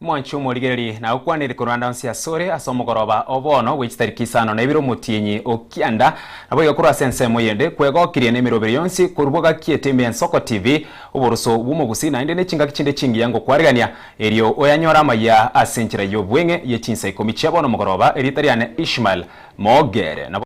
Mwanche omorigereri na okwanire korwanda onsi asore ase omogoroba o bono bwe chitariki isano na ibere omotienyi o kianda, naboigo korwa ase ensemo eyende kwegokirie nemiroberi yonsi korwa bwagakiete ime ensoko TV, oborusu bw'omogusi naende nechingaki chinde chingiya ngokwarerania. Erio oyanyore amayia ase enchera y'obweng'e ye chinsa ikomi chia bono mogoroba, erieta riane Ishmael, moogere nabo.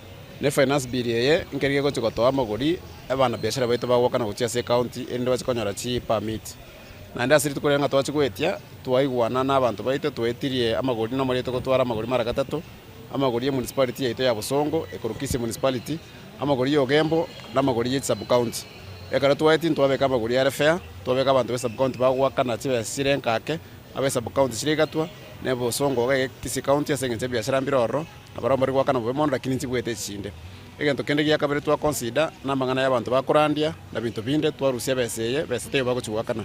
Nefinance bill eye nkeri gegochia gotoa amagori abanabiashara baito bagwoka na gochia ase ecounty erinde bache konyora chi permit. Naende ase rituko riria ng'a twachia goetia twaigwana nabanto baito twaetirie amagori na omorioto gotwara amagori mara gatato, amagori ye municipality yaito ya Bosongo, Ekuru Kisii municipality, amagori ya Ugembo na amagori ye sub county. Ekero twaetie ntwabeka amagori are fair, twabeka abanto be sub county bagwoka na chibesa chire enkake, abe sub county chire igatwa, ne Bosongo iga ege Kisii county ase engencho ebiashara mbire ororo, Abarombe rigwaka nabobe mono, lakini inche bwete chinde. Egento kende gia kabere twakonsida namang'ana y'abanto bakorandia na binto binde twarusia ebesa eye besa taiyo bagochigwakana.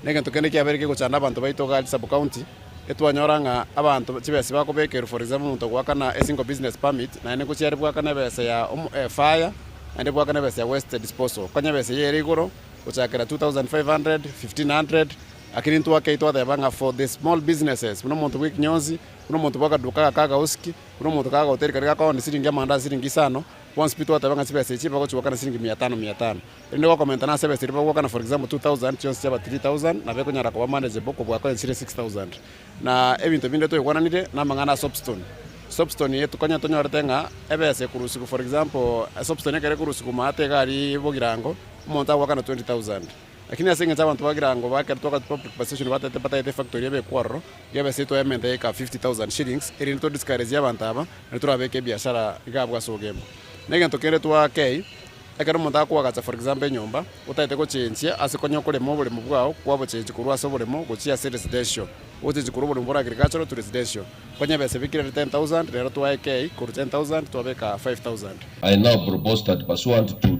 Na egento kende kiabeire kegochanda abanto baito Ugali sub county, etwanyora ng'a abanto chibesa bakobekerwa for example omonto ogwakana a single business permit naende ngochia are bwakana ebesa ya fire naende bwakana ebesa ya waste disposal konya ebesa eye ere igoro gochakera 2500, 1500 lakini intwe akei twateba ng'a for the small businesses buna omonto bwekinyonsi. Buna omonto bwa akaduka aka ka gausiki, buna omonto kaga hoteli karia gakoa onde siringi amanda ase siringi isano, bonsi pi twateba ng'a chibesa echi bagochigwaka na siringi mia etano, mia etano. Erinde gwakomentana nase ebesa eria bagwaka na for example two thousand, chionsi chiaba three thousand, nabo ekonyara koba manageable kobua koa ensire six thousand. Na ebinto binde toigwananire namang'ana a soapstone. Soapstone eye konya tonyorete ng'a ebesa ekorusigwa for example soapstone ekero ekorusigwa omanyete iga aria bogirango, omonto agwaka na twenty thousand. Lakini ase engencho y'abanto ba Girango bakerete wakati bwa preparation batagete batagete efactory ebe ekwaroro, igaba eseito ya ementa eika 50,000 shillings, erinde to discourage abanto aba, naende torabeke ebiashara iga abwo ase ogembe. Negento kende twakei, ekero omonto akoagacha for example enyomba, otagete gochenjia ase konya okorema oboremo bwao kwabochenjia korwa ase oboremo gochia ase residential, ogochenjia korwa oboremo bore agricultural to residential. Konya ebesa ebikire ere 10,000, rero twaekei korwa 10,000 twabeka 5,000. I now propose that pursuant to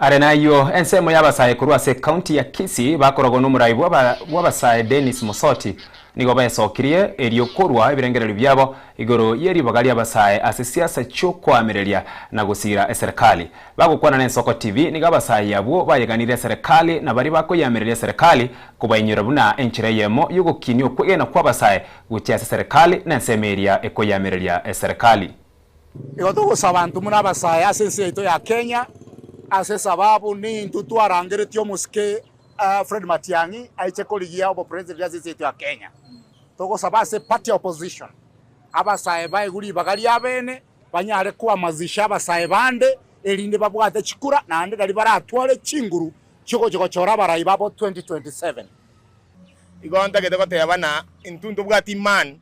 Are nayio, ensemo y'abasae korwa ase ekaunti ya Kisii bakorogwa n'omoraai bw'abasae Dennis Mosoti nigo besokirie erio korwa ebirengererio biabo igoro y'eribaga ri'abasae ase siasa chi'okoamereria na gosiira eserekari. Bagokwana n'Ensoko TV nigo abasae abwo bayeganirie eserekari na baria bakoyeamereria eserekari kobainyora buna enchera eyemo y'ogokinia okwegena kw'abasae gochia ase eserekari na ensemo eria ekoyeamereria eserekari. Igo togosaba intwe more abasae ase ense yaito ya Kenya, ase sababu nintwe twarangeretie omosike Fred Matiang'i aiche korigia obopresident ase ense yaito ya Kenya. Togosaba ase party ya opposition abasae baigwe ribaga riabene banyare koamazisha abasae bande erinde babwate chikura naende nari baratware chinguru chiogochia gochora abarai babo 2027. Igo ntagete goteba ng'a intwe ntobwati imani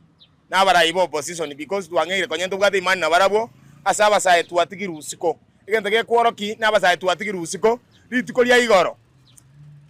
nabarai ba opposition because twang'eire konya ntobwate imani nabarabwo ase abasae twatigire usiko. Egento gekworoki nabasae twatigire usiko rituko ria igoro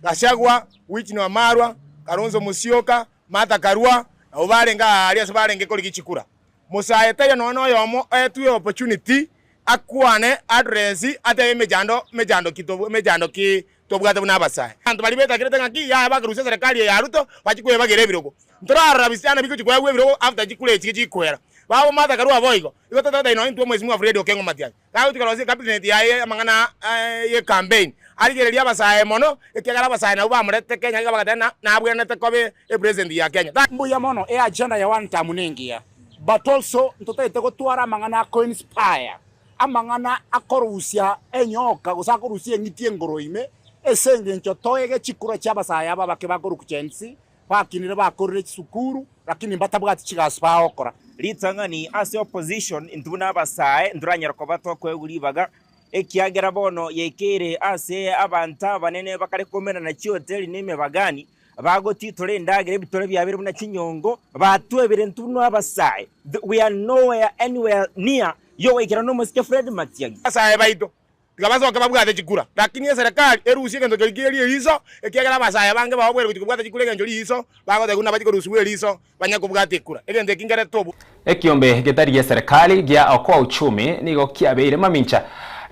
Gachagua, Wycliffe Wamalwa, Kalonzo Musyoka, Martha Karua nabo barenge aa aria ase barenge korigia chikura. Mosae taiyo nonya noyomo oetwe opportunity akwane address atebe emechando mechando ki emechando ki tobwate buna abasae. Abanto baria betakerete ng'aki yaye bakarusia eserekari eye ya Ruto bachia kwebagera ebirogo. Ntorarora bisiana bigochia koegwa ebirogo after chikura echi chigochia koera. Babo Martha Karua boigo. Igo totoetae nonya intwe Mweshimiwa Fred Okengo Matiang'i kagochia korosia ecabinet yaye amang'ana aa ye campaign arigereria abasae mono ekiagera abasae nabwo bamoretete Kenya iga bagateba na nabwenerete koba e president ya Kenya. Thank. Mbuya mono, e agenda ya one term nengiya but also ntotaete gotwara amang'ana ako inspire. Amang'ana akorusia enyoka, gose akorusia eng'iti enkoro ime, ase engencho toege chikura chi'abasae aba abake bakorukucha ense, bakinire bakorire chisukuru, lakini mbatabwati chigasi bagokora. Ritang'ani ase opposition intwe buna abasae ntoranyare koba twakoegwa ribaga, ekiagera bono yaikeire ase abanto abanene bakare komenana chihoteli na emebagani, Bagotitora endagera ebitore biabere buna chinyongo, batwa ebirento buna abasae. Th we are nowhere anywhere near yogoikera nomosike Fred Matiang'i. Abasae baito tiga basoke babwate chikura, lakini eserekari erusie egento keria kiria riiso, ekiagera abasae abange bao bwere gochia kobwata chikura egencho riiso, bagoteba buna nabache korusibwa eriiso, Banya kobwata ekura, egento eki nkerete obwe. Ekiombe getari gia Serikali gia Okoa Uchumi nigo kiabeire mamincha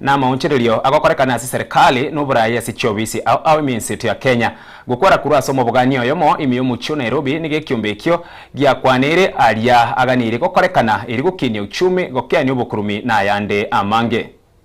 namaonchererio agokorekana ase Serikali noboraai ase chiofisi ao ao eminsi eto ya Kenya. Gokwera korwa ase omobogania oyomo ime yomochie o Nairobi nigo ekiombe ekio giakwaneire aria aganeirie gokorekana erio gokinia uchumi, gokeania obokurumi na ayande amange.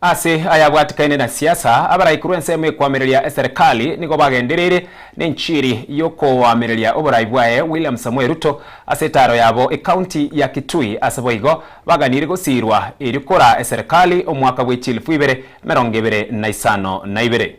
Ase ayabwatikaine na siasa, abaraiku rw'ensemo ekoamereria eserekari nigo bagendereire nenchiri y'okoamereria oborai bwaye William Samoei Ruto ase etaaro yabo ekaunti ya Kitui ase boigo baganiire gosiirwa erio koraa eserekari omwaka bw'echilifu ibere emerongo ebere na isano na ibere.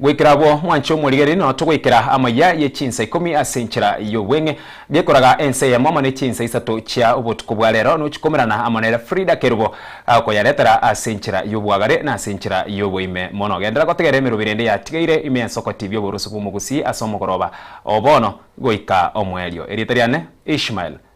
Goikera agwo mwanche omorigereria nonya togoikera amaya ye chinsa ikomi ase enchera y'obweng'e. Gekoraga ensa eyemo amo ne chinsa isato chia obotuko bwa rero nochikomerana amo nere Frida Kerubo agokoyaretera ase enchera y'obwagare na ase enchera y'oboime mono. Genderera gotegerera emeroberi ende yatigeire ime ensoko tibia oboroso bw'omogusii ase omogoroba o bono goika omoerio. Erieta riane Ishmael